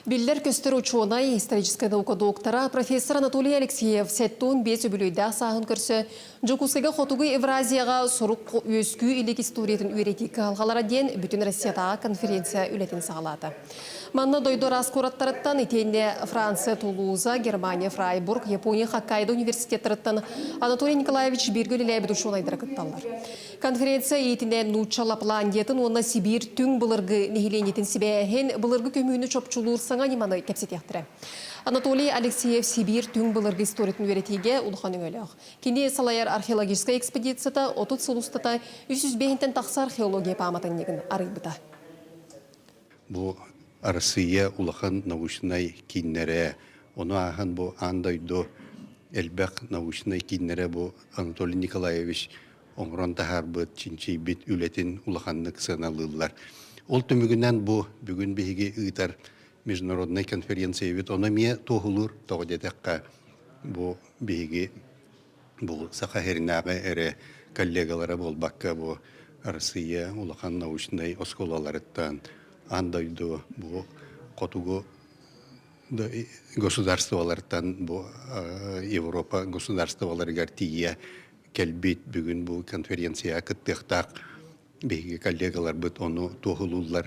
Биллэр-көстөр учуонай, историческай наука доктора, профессор Анатолий Алексеев сэттуун биэс үбүлүөйдээх сааһын көрсө Дьокуускайга Хотугу Евразияҕа сурук үөскүү илик историятын үөрэтии кыһалҕалара диэн бүтүн Россиятааҕы конференция үлэтин саҕалаата. Манна дойду араас куораттарыттан, итиэннэ Франция, Тулуза, Германия, Фрайбург, Япония Хоккайдо университеттарыттан Анатолий Николаевич бииргэ үлэлээбит учуонайдара кытталлар. Конференция иитинэн нуучча Лапландиятын уонна Сибиир түҥ былыргы нэһилиэнньэтин сибээһин, былыргы көһүүнү чопчулуур саҥа ньыманы кэпсэтиэхтэрэ. Анатолий Алексеев Сибиир түҥ былыргы историятын үөрэтиигэ улахан өҥөлөөх. Кини салайар археологическай экспедицията отут сыл устата үс сүүс биэһинтэн тахса археология пааматынньыгын арыйбыта. Бу Арассыыйа улахан научнай кииннэрэ, ону ааһан бу аан дойду элбэх научнай кииннэрэ бу Анатолий Николаевич оҥорон таһаарбыт, чинчийбит үлэтин улаханнык сыаналыыллар. Ол түмүгүнэн бу бүгүн биһиги ыытар международнай конференциябыт ону эмиэ туоһулуур. Тоҕо диэтэххэ, бу биһиги бу Саха сиринээҕи эрэ коллегалара буолбакка, бу Россия улахан научнай оскуолаларыттан аан дойду бу хотугу государстволарыттан бу Европа государстволарыгар тиийэ кэлбит бүгүн бу конференцияҕа кыттыахтаах биһиги коллегаларбыт ону туоһулууллар